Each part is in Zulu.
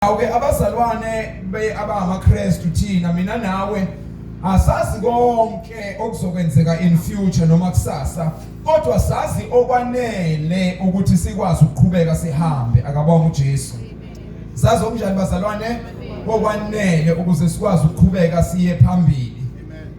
awuke abazalwane be abangamaKristu thina mina nawe asazi konke okuzokwenzeka in future noma kusasa kodwa sazi okwanele ukuthi sikwazi ukuqhubeka sihambe akabonga uJesu sazi okunjani bazalwane okwanele ukuze sikwazi ukuqhubeka siye phambili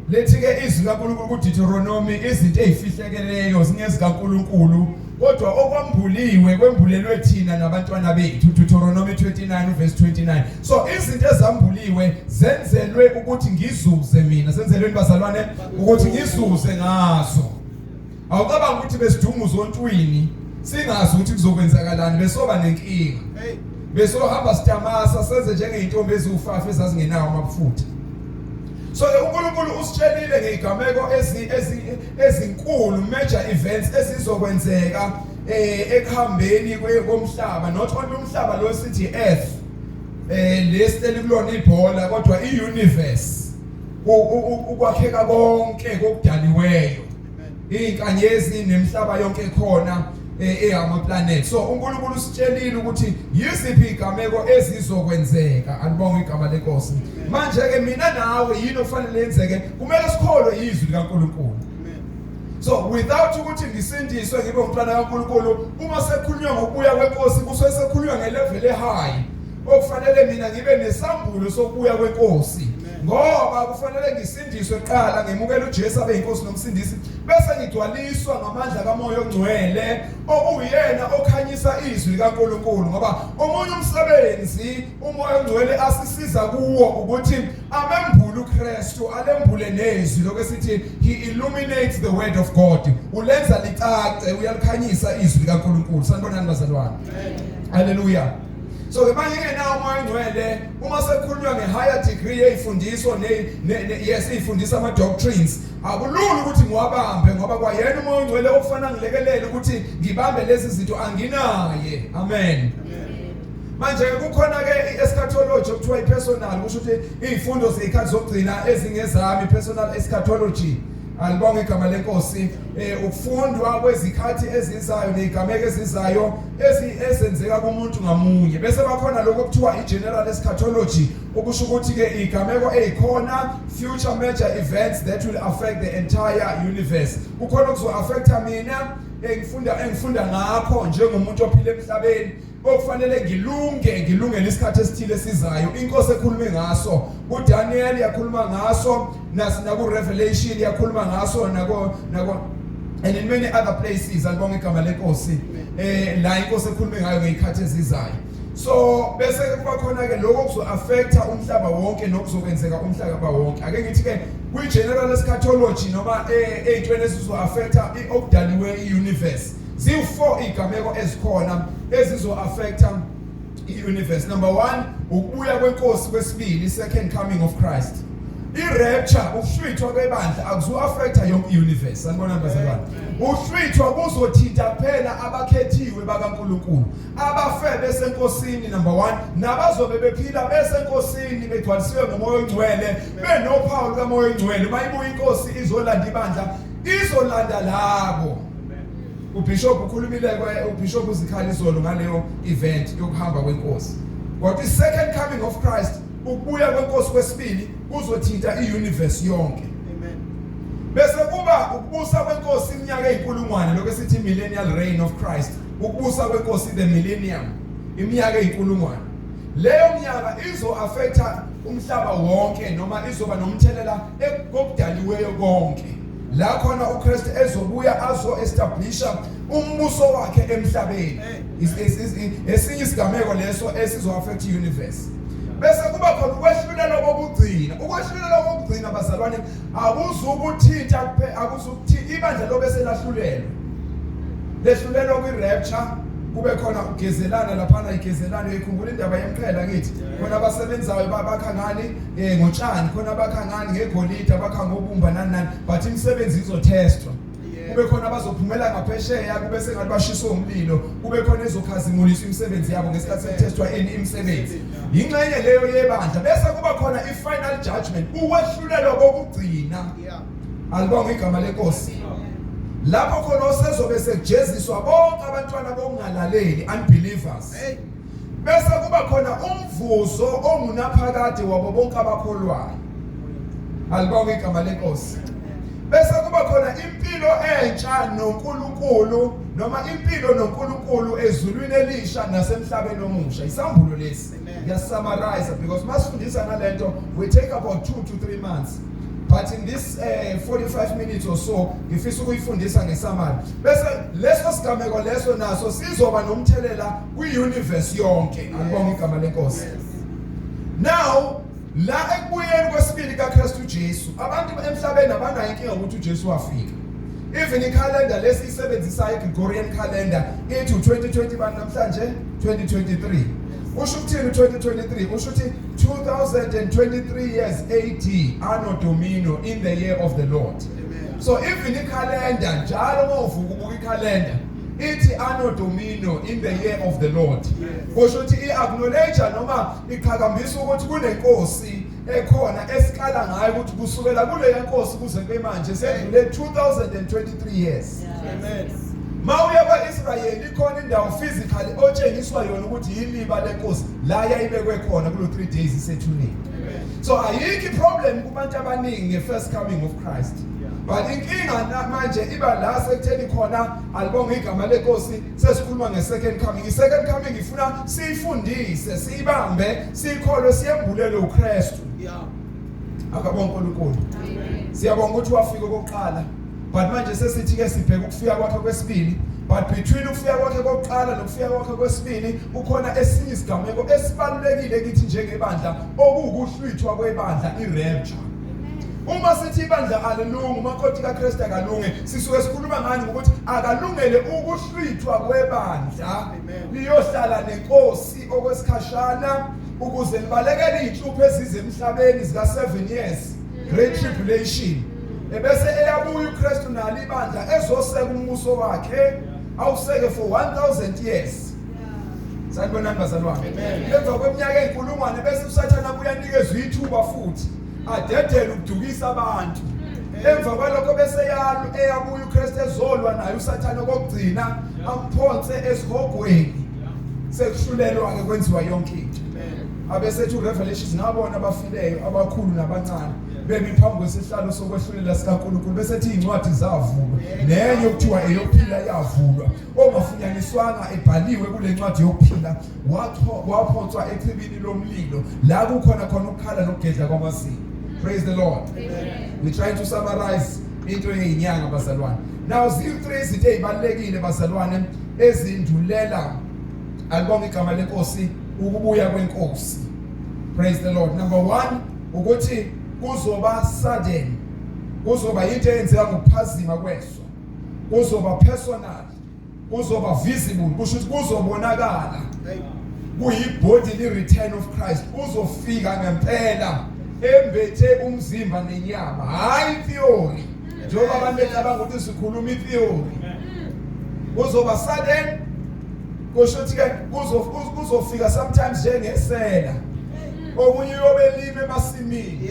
Lithi-ke izwi likaNkulunkulu kuDitheronomi, izinto ezifihlekeleyo zingezikaNkulunkulu, kodwa okwambuliwe kwembulelwe thina nabantwana bethu. Deuteronomy 29 verse 29. So izinto ezambuliwe zenzelwe ukuthi ngizuze mina. Senzelweni bazalwane ukuthi ngizuze ngazo. Awucabanga ukuthi besidunguza ontwini singazi ukuthi kuzokwenzakalani besoba nenkinga. Hey. Besohamba sitamasa senze njengeintombi eziwufafa ezazingenawo amabufutha. So ke uNkulunkulu usitshelile ngeigameko ezi ezinkulu major events esizokwenzeka eh ekuhambeni komhlaba not only umhlaba lo sithi earth eh lesiteli kulona ibhola kodwa iuniverse ukwakheka konke kokudaliweyo izinkanyezi nemhlaba yonke ekhona eh, eyama planet so uNkulunkulu usitshelile ukuthi yiziphi igameko ezizokwenzeka alibonga igama lenkosi manje ke mina nawe yini okufanele yenzeke kumele sikholwe izwi likaNkulunkulu so without ukuthi ngisindiswe ngibe umntwana kaNkulunkulu uma sekukhulunywa ngokubuya kwenkosi kusuke sekukhulunywa ngelevel ehigh okufanele mina ngibe nesambulo sokubuya kwenkosi ngoba kufanele ngisi Ngidiswe kuqala ngemukela uJesu abe inkosi nomsindisi bese ngigcwaliswa ngamandla kaMoya oNgcwele okuyena okhanyisa izwi likaNkuluNkulu ngoba omunye umsebenzi uMoya oNgcwele asisiza kuwo ukuthi amembule uKristu alembule nezwi lokusithi he illuminates the word of God ulenza licace uyalikhanyisa izwi likaNkuluNkulu sanibonani bazalwane haleluya so ke manje engenawo umoya ongcwele uma sekukhulunywa nge-higher degree yeyifundiso yes iyifundisa ama-doctrines akulula ukuthi ngiwabambe ngoba kwayena umoya ongcwele okufana ngilekelele ukuthi ngibambe lezi zinto anginaye amen, amen. manje kukhona ke i-eschatology okuthiwa i-personal kusho ukuthi iy'fundo zey'khathi zokugcina ezingezami i-personal eschatology alibonge igama lenkosi eh ukufundwa kwezikhathi ezizayo nezigameko ezizayo ezenzeka kumuntu ngamunye bese bakhona lokho kuthiwa igeneral eschatology okusho ukuthi ke igameko ezikhona future major events that will affect the entire universe kukhona okuzo affecta mina engifunda engifunda ngakho njengomuntu ophila emhlabeni okufanele ngilunge ngilungele isikhathi esithile esizayo inkosi ekhulume ngaso uDaniel yakhuluma ngaso nasinaku Revelation yakhuluma ngaso nako nako and in many other places alibonga igama lenkosi eh la inkosi ekhulume ngayo ngeyikhathi ezizayo so bese kuba khona ke lokho kuzo affecta umhlaba wonke nokuzokwenzeka umhlaba wonke ake ngithi ke kwi general eschatology noma eh, eyintweni esizo affecta okudaliwe iuniverse Ziwu-four iy'gameko ezikhona ezizo-affecta i-universe. Number one, ukubuya kwenkosi kwesibili, second coming of Christ. I-rapture, ukuhlwithwa kwebandla akuzu-affecta yonke i-universe. Sanibona bazalwane. Ukuhlwithwa kuzothinta kuphela abakhethiwe bakaNkulunkulu. Abafe besenkosini number one, nabazobe bephila besenkosini begcwalisiwe ngomoya ongcwele, benophawu lukamoya ongcwele. Uma ibuya inkosi izolanda ibandla, izolanda labo. Ubishop ukhulumile ubishop uzikhali izolo ngaleyo event yokuhamba kwenkosi kodwa i-second coming of Christ ukubuya kwenkosi kwesibili kuzothinta i-universe yonke amen bese kuba ukubusa kwenkosi iminyaka ezinkulungwane lokho esithi millennial reign of Christ ukubusa kwenkosi the millennium iminyaka ezinkulungwane leyo minyaka izo affecta umhlaba wonke noma izoba nomthelela ekudaliweyo konke la khona uKristu ezobuya azo establisha umbuso wakhe emhlabeni esinye isigameko leso esizo affect universe bese kuba khona ukwehlulela kokugcina ukwehlulela kokugcina bazalwane akuzukuthinta akuzukuthinta ibandla lobe selahlulelwe lehlulelwa kwi rapture kube khona ugezelana laphana igezelana ikhumbula indaba yemqhela ngithi khona abasebenzayo bakha ngani Eh ngotshani khona abakha ngani ngegolide abakha ngobumba nani nani but imisebenzi izotestwa. Kube khona abazophumela ngaphesheya kube sengathi bashiswa umlilo kube khona ezokhazimuliswa imisebenzi yabo ngesikhathi setestwa eni imisebenzi. Yinxenye leyo yebandla bese kuba khona ifinal judgment ukwehlulelwa kokugcina. Alibonga igama lenkosi. Lapho khona osezobe sekujeziswa bonke abantwana bokungalaleli unbelievers. Hey. Bese kuba khona umvuzo ongunaphakade wabo bonke abakholwayo. Alibonge igama lenkosi. Bese kuba khona impilo entsha noNkulunkulu noma impilo noNkulunkulu ezulwini elisha nasemhlabeni omusha. Isambulo lesi. Ya summarize because masifundisa ngalento we take about 2 to 3 months. but in this uh, eh, 45 minutes or so ngifisa ukuyifundisa ngesamari bese leso sigameko leso naso sizoba nomthelela kwi-universe yonke ngibonga igama lenkosi now la ekubuyeni kwesibili kaKristu Jesu abantu emhlabeni abanayo inkinga ukuthi uJesu wafika even ikhalenda lesi isebenzisayo iGregorian calendar ithi 2020 bani namhlanje 2023 usho ukuthini 2023 usho ukuthi 2023 years AD anno domino in the year of the Lord so even ikhalenda njalo uma uvuka ubuka ikhalenda ithi anno domino in the year of the lord kusho ukuthi i-acknowledge noma iqhakambisa ukuthi kunenkosi ekhona esikala ngayo ukuthi kusukela kuleya nkosi kuze kube manje sedlule 2023 years amen mawuya kwaIsrayeli ikhona indawo physically otshengiswa yona ukuthi yiliba lenkosi la yayibekwe khona kulo 3 days isethuneni so ayikho iproblem kubantu abaningi ngefirst coming of Christ but inkinga namanje iba la sekutheni khona alibonga igama lenkosi sesikhuluma ngesecond coming isecond coming ifuna siyifundise siyibambe siyikholwe siyembulele uKristu yeah akabonga uNkulunkulu siyabonga ukuthi wafika okokuqala but manje sesithi ke sibheke ukufika kwakhe kwesibili but between ukufika kwakhe kokuqala nokufika kwakhe kwesibili kukhona esinye isigameko esibalulekile kithi njengebandla okuwukuhlwithwa kwebandla irapture uma sithi ibandla alilungi umakoti kaKristu akalungi sisuke sikhuluma ngani ukuthi akalungele ukuhlwithwa kwebandla liyohlala nenkosi okwesikhashana ukuze libalekele izinhlupho ezize emhlabeni zika 7 years great tribulation ebese eyabuya uKristu nalo ibandla ezoseka umbuso wakhe awuseke for 1000 years sanibonani bazalwane emva kweminyaka eyinkulungwane bese usathane abuyanikezwa ithuba futhi adedele ukudukisa abantu emva kwalokho bese yalo eyabuya uKristu ezolwa naye usathane kokugcina amphonse esihogweni sekuhlulelwa ke kwenziwa yonke into abesethu revelations ngabona abafileyo abakhulu nabancane bemi phambi kwesihlalo sokwehlulela sikaNkulunkulu besethi incwadi zavulwa nenye okuthiwa eyophila yavulwa ongafunyaniswanga ebhaliwe kule ncwadi yokuphila waphonswa echibini lomlilo la kukhona khona ukukhala nokugedla kwamazinyo praise the lord we try to summarize into yeyinyanga bazalwane now ziyi-three izinto ezibalulekile bazalwane ezindulela alibonga igama lenkosi ukubuya kwenkosi praise the lord number one ukuthi kuzoba sudden kuzoba yinto eyenzeka ngokuphazima kweso kuzoba personal kuzoba visible kusho ukuthi kuzobonakala kuyibody li return of Christ uzofika ngempela embethe umzimba nenyama hayi theory njengoba abantu becabanga ukuthi sikhuluma itheory kuzoba sudden kusho ukuthi ke kuzofika sometimes njengesela omunye uyobelima emasimini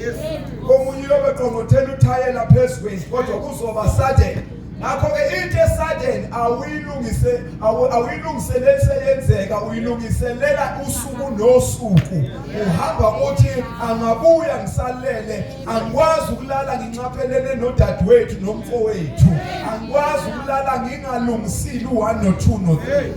omunye uyobeqongothela uthayela phezu kwendlu kodwa kuzoba sudden ngakho-ke into esudden awuyilungise awuyilungiseleli seyenzeka uyilungiselela usuku nosuku uhamba uthi angabuya ngisalele angikwazi ukulala nginxaphelele nodadewethu nomfowethu angikwazi ukulala ngingalungisile u-one no-two no-three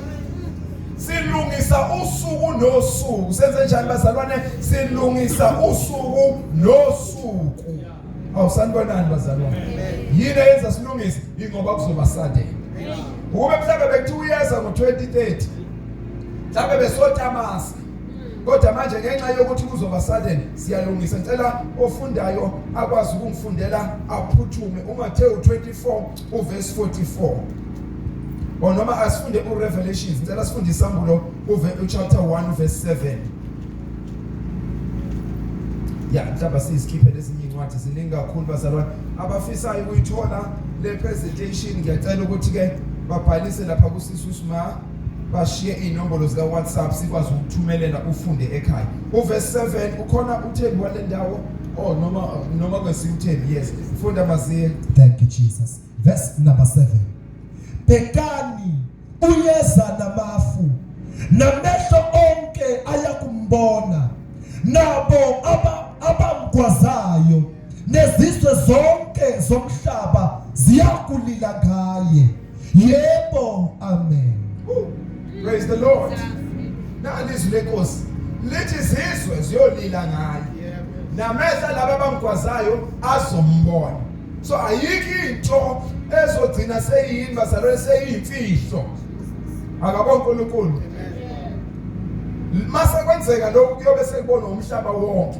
silungisa usuku nosuku senze njani bazalwane silungisa usuku nosuku awusanibonani bazalwane yini eyenza silungise ingoba kuzoba sade ukube mhlawumbe bekuthiwa uyeza ngo-2030 mhlawumbe besotamasa kodwa manje ngenxa yokuthi kuzoba sudden siyalungisa ngicela ofundayo akwazi ukungifundela aphuthume uMathewu 24 uverse 44 or noma asifunde uRevelations ngicela sifunde isambulo uchapter 1 verse 7 ya mhlawumbe sizikhiphe lezinye incwadi ziningi kakhulu bazalwane abafisayo ukuyithola le presentation ngiyacela ukuthi-ke babhalise lapha kusisi usma bashiye iy'nombolo zika-whatsapp sikwazi ukuthumelela ufunde ekhaya uvesi 7 ukhona uthembi wale ndawo o oh, noma noma kwesinye uthembi yes funda maziye thank you jesus verse number 7 bhekani uyeza namafu namehlo onke ayakumbona nabo abamgwazayo aba nezizwe zonke zomhlaba ziyakulila ngaye yebo amen praise the lord nali izwi lenkosi lithi izizwe ziyolila ngaye namehla laba abamgwazayo azombona so ayikho into ezogcina seyini bazalwane seyimfihlo akabo uNkulunkulu mase kwenzeka lokhu kuyobe sekubona umhlaba wonke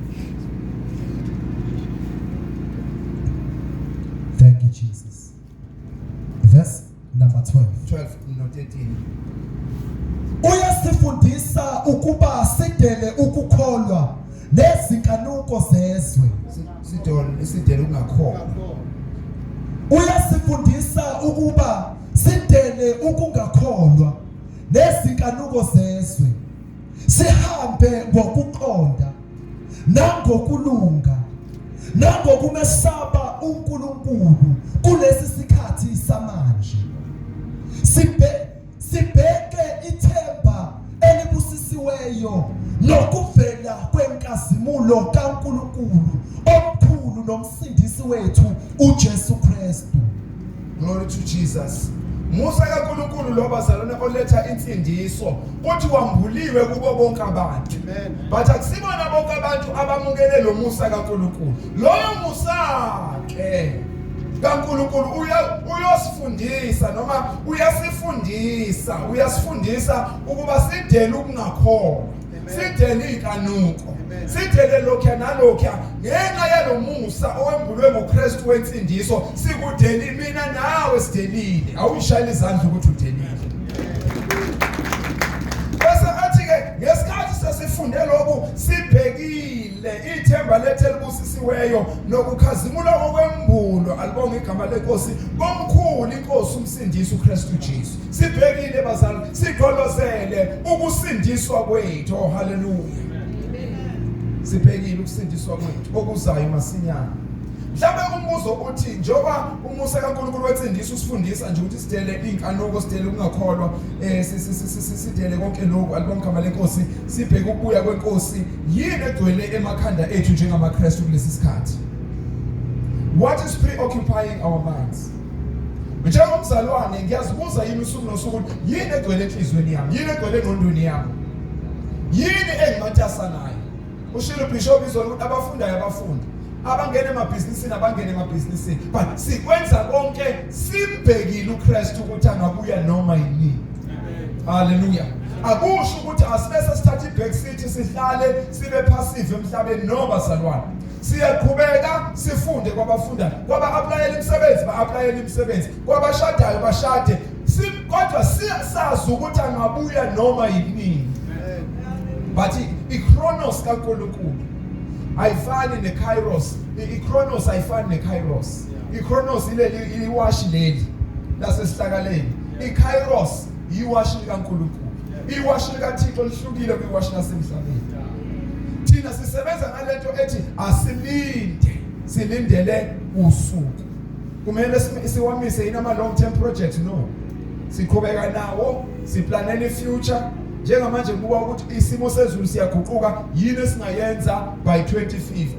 Thank you, Jesus. Verse number 12. 12 no 13 uyasifundisa ukuba sidele ukukholwa nezinkanuko zezwe sidele sidele ukungakholwa uyasifundisa ukuba sidele ukungakholwa nezinkanuko zezwe sihambe ngokuqonda nangokulunga nangokumesaba uNkulunkulu kulesi sikhathi samanje sibe sibheke ithemba elibusisiweyo nokuvela kwenkazimulo kaNkulunkulu omkhulu nomsindisi wethu uJesu Kristu Glory to Jesus. Musa kaNkulunkulu lo bazalwane oletha insindiso kuthi wambuliwe kubo bonke abantu. But akusibona bonke abantu abamukele lo Musa kaNkulunkulu. Loyo Musa ke kaNkulunkulu uya uyosifundisa noma uyasifundisa uyasifundisa ukuba sidele ukungakholwa. sithele iy'kanuko sithele lokhuya nalokhuya ngenxa yalo musa owembulwe ngokristu wensindiso sikudelile mina nawe sidelile awuyishayela izandla ukuthi udelile bese athi-ke ngesikhathi sesifunde lokhu sibhekile ithemba lethu elibusisiweyo nokukhazimula kokwembulwa alibonge igama lenkosi komkhulu inkosi umsindisi ukristu jesu sibhekile bazali sigqolozele ukusindiswa kwethu oh haleluya sibhekile ukusindiswa kwethu okuzayo masinyana mhlawumbe umbuzo uthi njengoba umusa kaNkulunkulu wetsindisa usifundisa nje ukuthi sidele inkanuko sidele ukungakholwa eh sidele konke lokho alibongama lenkosi sibheke ukubuya kwenkosi yini egcwele emakhanda ethu njengamaKristu kulesi sikhathi what is preoccupying our minds njengomzalwane ngiyazibuza yini usuku nosuku ukuthi yini egcwele enhliziyweni yami yini egcwele engqondweni yami yini engimatasa nayo ushilo bishop izolo ukuthi abafundayo abafundi abangene emabhizinisini abangene emabhizinisini but sikwenza konke simbhekile uKristu ukuthi angabuya noma yini haleluya akusho ukuthi asibese sithatha ibhekisithi sihlale sibe passive emhlabeni no bazalwane Siyaqhubeka sifunde kwabafunda, kwaba aplayela imisebenzi ba aplayela imisebenzi, kwabashadayo bashade. Si kodwa siyasazi ukuthi angabuya noma yini. But ichronos kaNkulunkulu ayifani nekairos. Ichronos ayifani nekairos. Ichronos ileli iwashi leli lasesihlakaleni. Ikairos yiwashi likaNkulunkulu. iwashi likaThixo lihlukile kwiwashi lasemhlabeni thina sisebenza ngalento ethi asilinde silindele usuku kumele siwamise yini ama long term projects no siqhubeka nawo siplanele ifuture njengamanje kuba ukuthi isimo sezulu siyaguquka yini esingayenza by 2050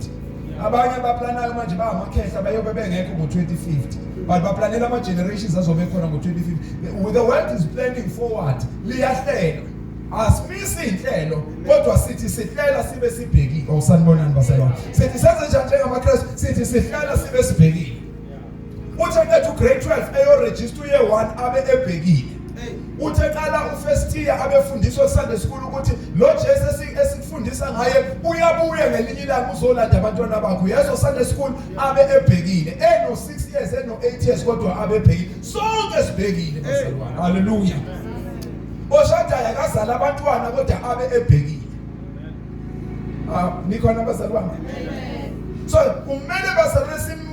abanye abaplanayo manje bangamakhehla bayobe bengekho ngo-2050 but baplanela ama-generations azobe khona ngo-2050 the world is planning forward liyahlelwa asimisi inhlelo kodwa sithi sihlela sibe sibhekile awusanibonani baselwa sithi senze njani njengamakrestu sithi sihlela sibe sibhekile uthe ngethu grade 12 eyorejista uye 1 abe ebhekile uthi eqala ufestiya abefundiswa kusande sikhulu ukuthi lo Jesu esikufundisa ngaye uyabuya ngelinye ilanga uzolanda abantwana bakho yezo sande sikhulu abe ebhekile eno 6 years eno 8 years kodwa abe ebhekile sonke sibhekile bazalwane haleluya oshadayo akazala abantwana kodwa abe ebhekile ah nikhona bazalwane so kumele bazalwane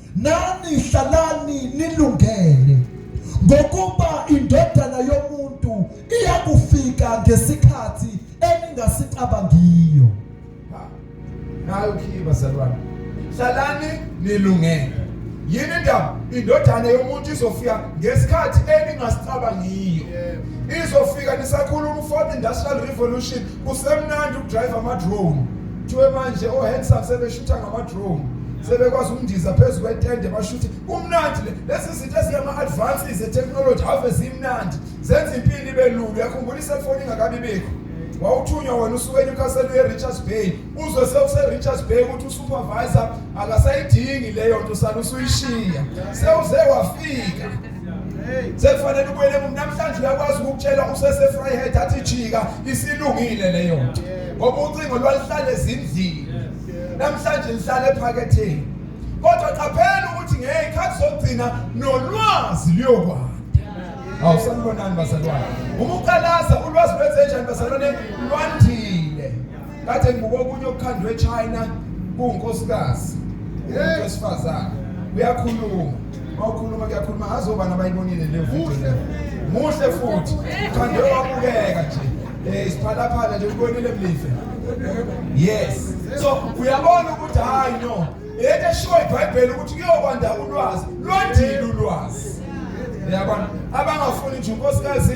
Nani hlalani nilungele ngokuba indodana yomuntu iyakufika ngesikhathi eningasicabangiyo. Nayo khiye bazalwane. Hlalani nilungele. Yini ndaba indodana yomuntu izofika ngesikhathi eningasicabangiyo. Izofika nisakhuluma u-fourth industrial revolution kusemnandi ukudrive ama-drone kuthiwe manje o-handsome sebeshutha ngama-drone sebekwazi ukundiza phezu kwetende bashuthi kumnandi le lezi zinto ezingama-advances etekhnoloji ave zimnandi zenza impilo ibe lulu uyakhumbula iselfoni ingakabi bikho wawuthunywa wena usuke enyukasela uye-richards bay uzwe sewuse-richards bay ukuthi usupervisor akasayidingi leyo nto usale usuyishiya sewuze wafika sekufanele ubuyele emuva namhlanje uyakwazi ukukutshela usesefryhead athi jika isilungile leyo nto ngoba ucingo lwalihlale ezindlini namhlanje lihlale ephaketheni kodwa qaphela ukuthi ngeyikhathi zokugcina nolwazi luyokwanda awusanibonani bazalwane uma uqalaza ulwazi lwenzenjani bazalwane lwandile Kade ngibuka okunye okukhandwe eChina kuwunkosikazi. Umuntu wesifazane. Uyakhuluma. Mawukhuluma kuyakhuluma azoba nabayibonile le video. Muhle futhi. Khande wabukeka nje. Eh isiphalaphala nje ubonile mlife. Yes. So uyabona ukuthi hayi no. Yethe shuwa iBhayibheli ukuthi kuyokwanda ulwazi. Lwandile ulwazi. Uyabona? Abangafuni nje unkosikazi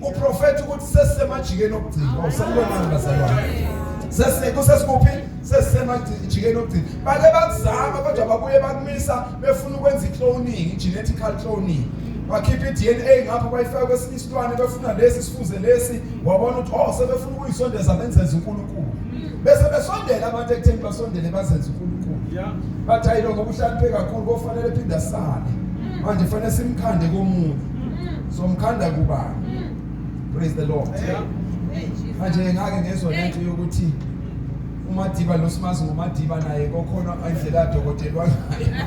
Uprofeti ukuthi sesemajikeni okugcina. Awusalibonanga bazalwane. Sese kusesikuphi? Sesemajikeni okugcina. Bake bakuzama kodwa babuye bakumisa befuna ukwenza i-cloning, genetic cloning. bakhipha i-DNA ngapha bayifaka kwesinye isilwane befuna lesi sifuze lesi wabona ukuthi oh sebefuna ukuyisondeza benzenza uNkulunkulu bese besondela abantu ekutheni basondele bazenze uNkulunkulu bathi ayiloko kuhlakaniphe kakhulu kofanele phinda sale manje fanele simkhande komuntu somkhanda kubani praise the lord manje ngake ngezwa lento yokuthi umadiba losimazi ngumadiba naye kokhona indlela dokotela wangayo